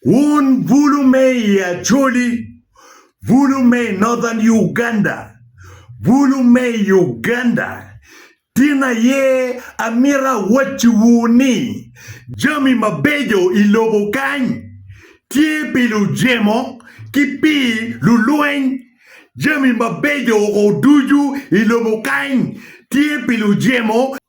Wun bulu me i Acholi, bulu me i Northern Uganda, bulu me i Uganda, tin aye amito awacciwu ni jami mabeco i lobo kany tye pi lujemo ki pi lulweny. Jami mabeco ducu i lobo kany tye pi lujemo.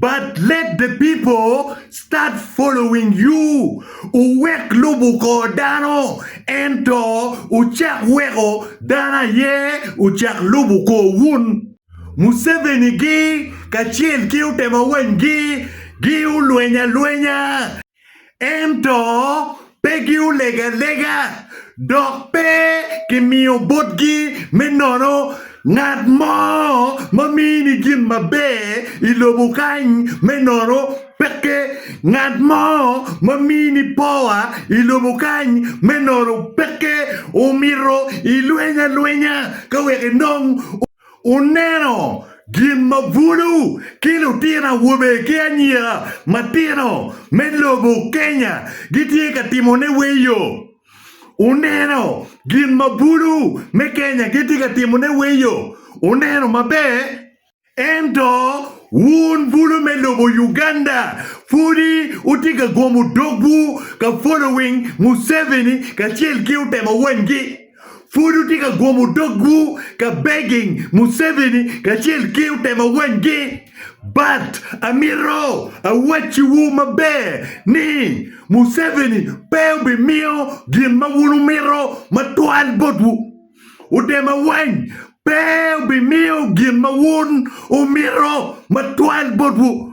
But let the people start following you, wuwek lubo kor dano, ento wucak weko dano aye ocak lubo korwun. Museveni-gi kacel ki utema wanygi gi olweny alwenya. ento pe giolego alega, dok pe kimiyo botgi me nono. Ngat mo ma mini gin maber i lobo kany me nono peke, ngat mo ma mini powa i lobo kany me nono peke. Omito ilweny alwenya ka wek inong. Wuneno gin ma bulu ki lutino awobe ki anyira matino me lobo Kenya gitye ka timone weyo? Wuneno gin ma bulu me Kenya gitye ka timone weyo? Wuneno maber. Ento wun bulu me lobo Uganda pudi wutye ka gomo dogwu ka following Museveni kacel ki otemo wanygi. Pud wutye ka gwomo dogwu ka begging Museveni kacel ki otema wenggi. But amito awacciwu maber ni Museveni pe obimiyo gin ma wun wumito matwal botwu. Otema weng pe obimiyo gin ma wun wumito matwal botwu.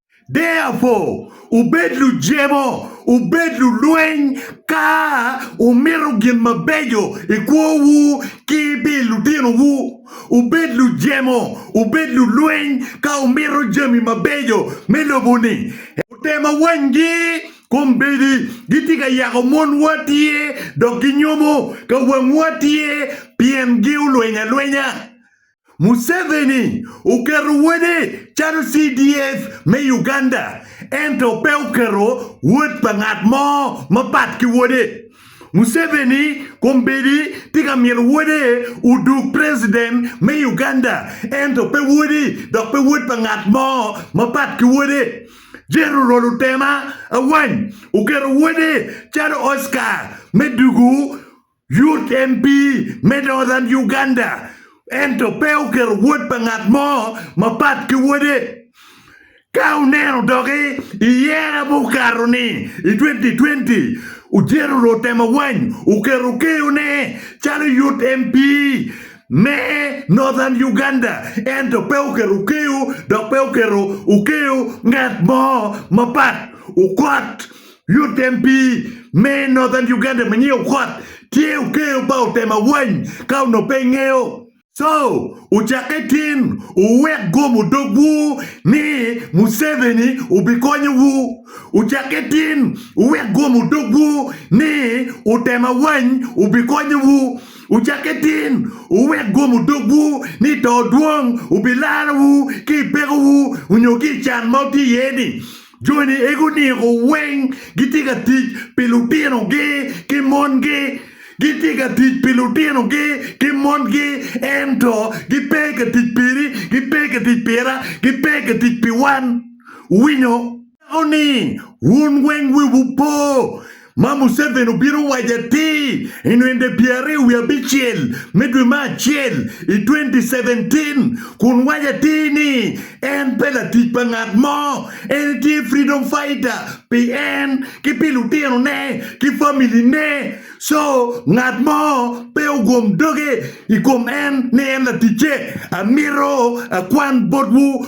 Therefore, wubed lujemo, wubed lulweny ka wumito gin mabeco i kwowu ki pi lutinowu. Wubed lujemo, wubed lulweny ka wumito jami mabeco me lobo-ni. Otema wanygi, kombeddi gitye ka yako monwa tye, dok ginyomo ka wangwa tye, pien giolweny alwenya. Museveni oketo wode calo CDF me Uganda ento pe oketo wod pa ngat mo mapat ki wode. Museveni kombeddi tye ka mito wode odug president me Uganda ento pe wodi dok pe wod pa ngat mo mapat ki wode. General Otema Awany oketo wode calo Oscar me dugu. UTMB me Northern Uganda ento pe oketo wod pa ngat mo mapat ki wode. Ka wuneno doki i yera ma okato ni i 2020, Ojeto Lutemawany oketo keyo ne calo UTMB me Northern Uganda ento pe oketo keyo dok pe oketo okeyo ngat mo mapat. Okot Lutem pii me Northern Uganda ma nyinge Okoth tye okeyo pa otem awany ka onongo pe ingeyo. Co, wucakke tin wuwek gomo dogwu ni Museveni obikonyowu. Wucakke tin wuwek gomo dogwu ni otem awany obikonyowu. Wucakke tin wuwek gomo dogwu ni to dwong obilarowu ki i pekowu onyo ki i can ma wutye iye ni. Joni ego niko weng gitye ka tic pi lutinogi ki mongi. Gitye ka tic pi lutinogi ki mongi, ento gipe ka tic piri, gipe ka tic pira, gipe ka tic pi wan. Wuwinyo? Aneko ni wun weng wiwu po. ma Museveni obino waco atir i nwende pyeraryo wiye abicel me dwe me acel i 2017 kun waco atir ni en pe latic pa ngat mo, en etye freedom fighter pi en ki pi lutino ne ki family ne so ngat mo pe ogum doge i kom en ni en laticce, amito akwan botwu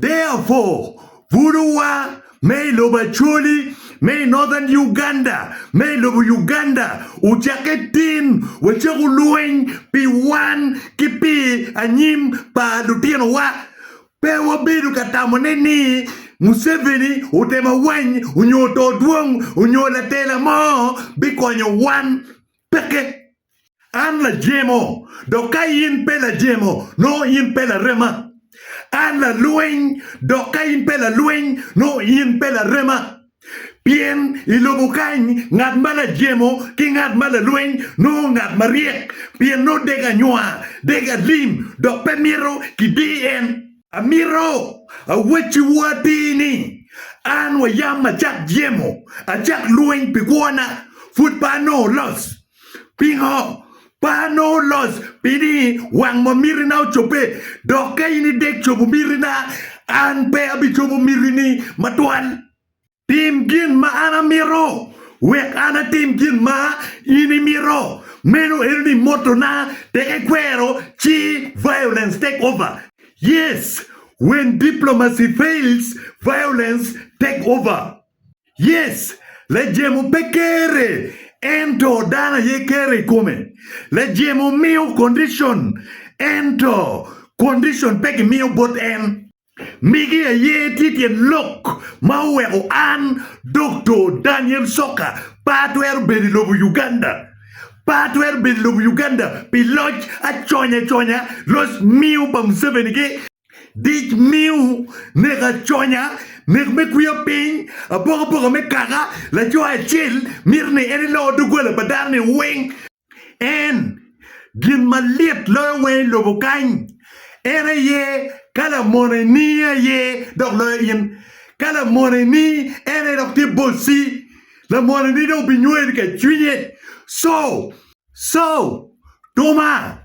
Therefore, butowa me i lobo Acholi, me i Northern Uganda, me i lobo Uganda ocakke tin wacako lweny pi wan ki pi anyim pa lutinowa. Pe wabedo ka tamone ni Museveni otemo awany onyo oto dwong onyo latela mo bikonyo wan. Peke. An lajemo, dok ka in pe lajemo, nongo in pe larema. An lalweny, dok ka in pe lalweny, nongo in pe larema. Pien i lobo kany, ngat ma lajemo ki ngat ma lalweny nongo ngat maryek, pien nongo dek anywa, dek alim, dok pe mito kidir en. Amito awacciwu atir ni, an wa yam acak jemo, acak lweny pi kwona, pud pe anongo loc. Pingo? Pe anongo loc pi ni wang ma mitina ocobbe, dok ka in idek cobo mitina, an pe abicobo mitini matwal. Tim gin ma an amito, wek an atim gin ma in imito. Meno en ni moto na tek ekwero ci violence take over. Yes, when diplomacy fails, violence take over. Yes, lajemo pe kere ento dano aye kere ikome. Lajemo miyo condition ento condition pe gimiyo bot en. Migi aye tye tyen lok ma oweko an, Doktor Daniel Soka, pe atwero bedo i lobo Uganda. Pe atwero bedo i lobo Uganda pi loc aconyaconya, loc miu pa Museveni ki dic miu, nek aconya, nek me kwiya piny, apokapoka me kaka, laco acel mito ni en elor doggola pa dano-ni weng. en, gin ma lit loyo weng i lobo kany, en aye ka lamoneni aye dok loyo in. Ka lamoneni en aye dok tye bocci, lamoneni dong binyweni ka i cwinye. Co. Co. Tuma.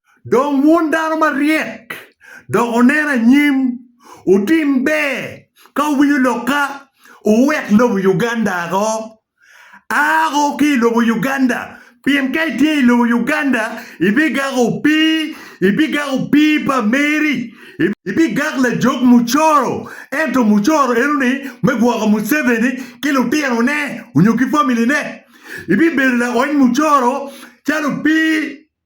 Dong wun dano maryek, dok wunen anyim, wutim ber ka wuwinyo lokka, wuwek lobo Uganda ako. Aako ki i lobo Uganda, pien ka itye i lobo Uganda, ibigako opii, ibigako opii pa meri, ibigak lajog mucoro, ento mucoro enoni me gwoko Museveni ki lutinone nyo ki family ne, ibibedo laony mucoro calo opii.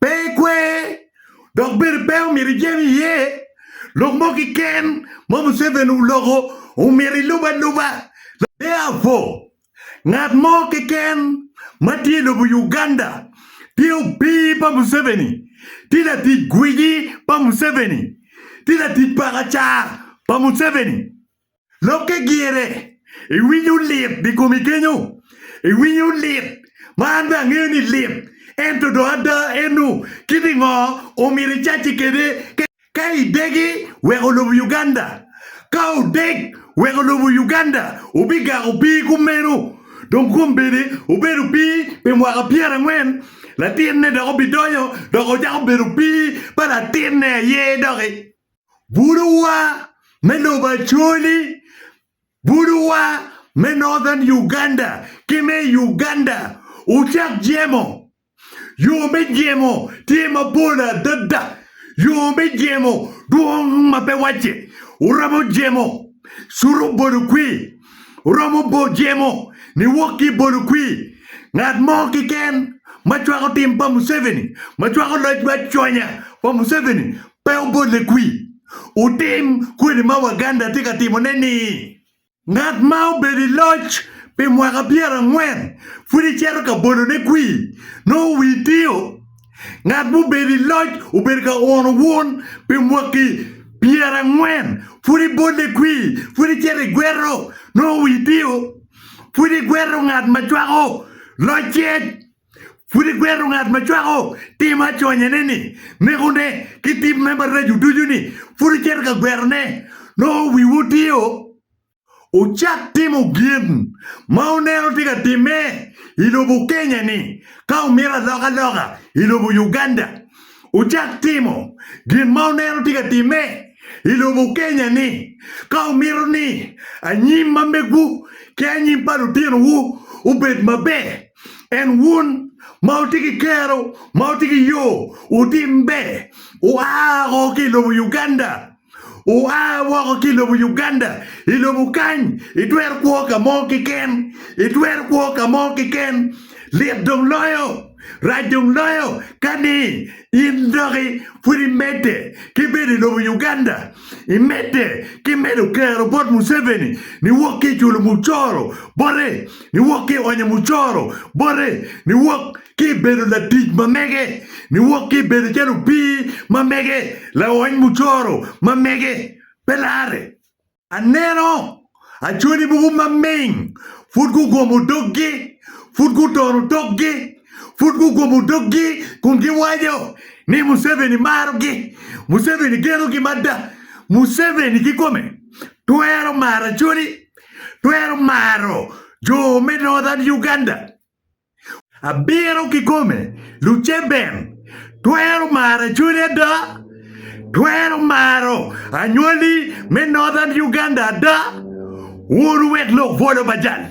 Pe ikwer, dok bene pe omyero ijen iye. Lok mo keken ma Museveni oloko omyero ilub aluba. Therefore, ngat mo keken ma tye i lobo Uganda tye opii pa Museveni, tye latic gwici pa Museveni, tye latic paka ca pa Museveni. Lok ki gire, iwinyo lit ni komi kenyo? Iwinyo lit, ma an bene angeyo ni lit, ento dong ada eno kit i ngo omyero icacci kede ka idegi weko lobo Uganda? Ka odeg weko lobo Uganda obigako pii kumeno dong kombeddi obedo pii pi mwaka pyer angwen latinne dok obidonyo dok ocako bedo pii pa latinne aye doki. bulowa me lobo Acholi, bulowa me Northern Uganda ki me i Uganda wucak jemo. Yo me jemo tye mapol adada, yo me jemo dwong ma pe wacce. Wuromo jemo cuto bolo kwir, wuromo jemo niwok ki i bolo kwir. Ngat mo keken ma cwako tim pa Museveni, ma cwako loc me aconya pa Museveni Pe obolle kwi. Wutim kwede ma Waganda tye ka timone ni, Ngat ma obedo i loc pi mwaka pyera angwen pud icito ka bolone kwi, nongo wii tio. Ngat mubedo i loc obedo ka uno wun pi mwaki pyera angwen, pud ibolle kwi, pud icito i gweto, nongo wii tio. Pud igweto ngat ma cwako locce. Pud igwero ngat ma cwako tim aconyene-ni, nekone, ki tip me maraco ducu-ni, pud icito ka gwerone. Nongo wiwu otio? Wucak timo gin ma wuneno tye ka timme i lobo Kenya-ni, ka wumito aloka loka i lobo Uganda. Wucak timo gin ma wuneno tye ka timme i lobo Kenya-ni, ka wumito ni anyim ma megwu ki anyim pa lutinowu obed maber. En wun ma wutye ki kero ma wutye ki yo otimbe oa woko ki i lobo Uganda, oa woko ki i lobo Uganda, i lobo kany itwero kwo ka mo keken, itwero kwo ka mo keken. Lit dong loyo, rac dong loyo ka ni in doki pud imedde ki bedo i lobo Uganda, imedde ki medo kero bot Museveni niwok ki i culo mucoro bote ni wok ki i onyo mucoro bote, ni wok ki i bedo latic ma mege, ni wok ki i bedo calo opii ma mege, laony mucoro ma mege. Pe larre! Aneno acwali mogo ma ming pud gugomo doggi, pud gutono tokgi, pud gugomo doggi kun giwaco ni Museveni marogi, Museveni genogi mada, Museveni kikome twero maro acwali twero maro jo me Northern Uganda. Abiro kikome, Luceben twero maro Acholi ada? Twero maro Anywali me Northern Uganda ada? Wun owek lok bwolo ba jal,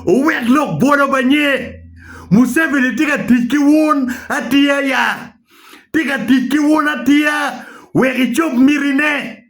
owek lok bwolo ba nye. Museveni tye ka tic ki wun atiya ya? Tye ka tic ki wun atiya wek icob mitine?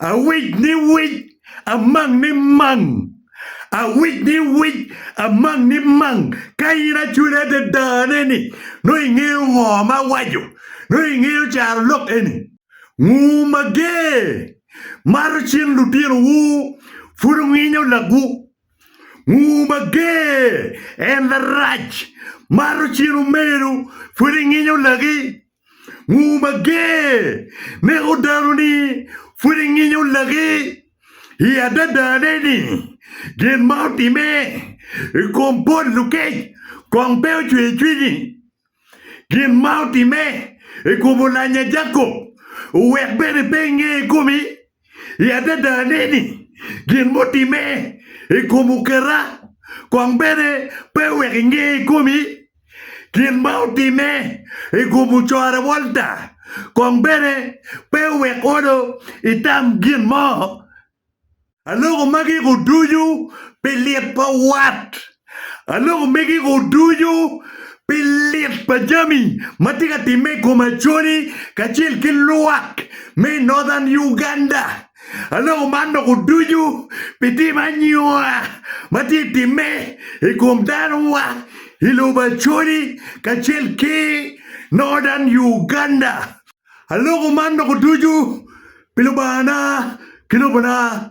Awic ni wic, amang ni mang. Awic ni wic, amang ni mang. Ka in acwele adada ne ni, nongo ingeyo ngo ma awaco, nongo ingeyo caro lok eni. Nguu mager, mato cing lutino wu, pud wunginyo lagwu. Nguu mager, en larac, mato cing omeru, pud inginyo lagi. Nguu mager neko dano ni pud inginyo laki. I adadane ni, gin ma otimme i kom bot lukec kong pe ocweyo cwinyi. Gin ma otimme i kom olanya Jacob owek bene pe inge i komi. I adadane ni gin mutimme i kom oketa kong bene pe oweko inge ikomi? Gin ma otimme i kom ocorre Walter kong bene pe owek olo itam gin mo? Aloko magi ko ducu pi lit pa wat. A Lok omeggigo ducu pi lit pa jami ma tye ka timme i kom Acholi kacel ki lwak me i Northern Uganda. A Lok oman doko ducu pi tim anyua ma tye i timme i kom danowa i lobo Acholi kacel ki Northern Uganda. A Lok oman doko ducu pi Lubangana ki lobona.